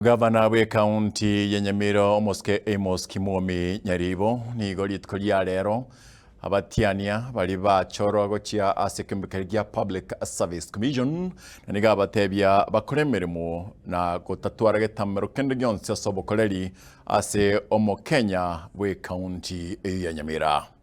Gavana bw'ekaunti ya Nyamira omosike Amos Kimwomi Nyaribo nigo rituko ria rero abatiania bari bachorwa gochia ase ekeombe keria gia Public Service Commission na nigo abatebia bakore emeremo na gotatwara getamero kende gionsi ase obokoreri ase omokenya bw'ekaunti eye ya Nyamira.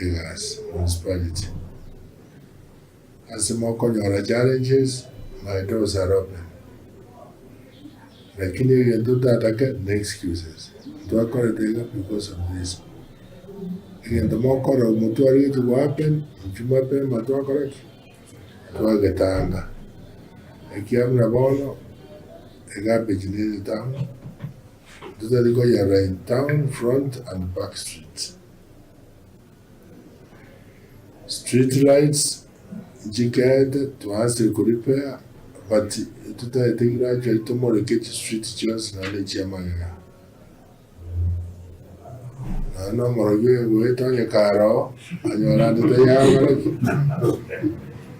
egasi, municipality, ase mokonyora challenges my doors are open lakini egento ntatake ne excuses ntwakorete iga because of this egento mokora omotwe aria geti go happen inche mapema twakora ki? twagetanga ekia buna bono egarbage nere town ntotari koyerora in town front and back streets. Street lights nchikete twanse ko repair but tutaete gradually tomoreke chi street chionsi naende echia magega. Naende omorogi oyo egoeta onye karoo anyora ande tayaborogi.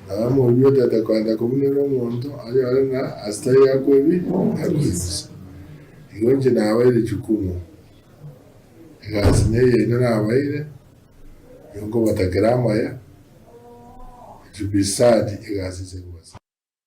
Naye omorubi otaete koenda kobunera omonto anyore ng'a ase tari akoebi akoebisa. Igo inche nabaeire jukumu. Egasi neye inde nabaeire, nigo nkobatakera amaya, inchubisaadi egasi inse nkobasaba.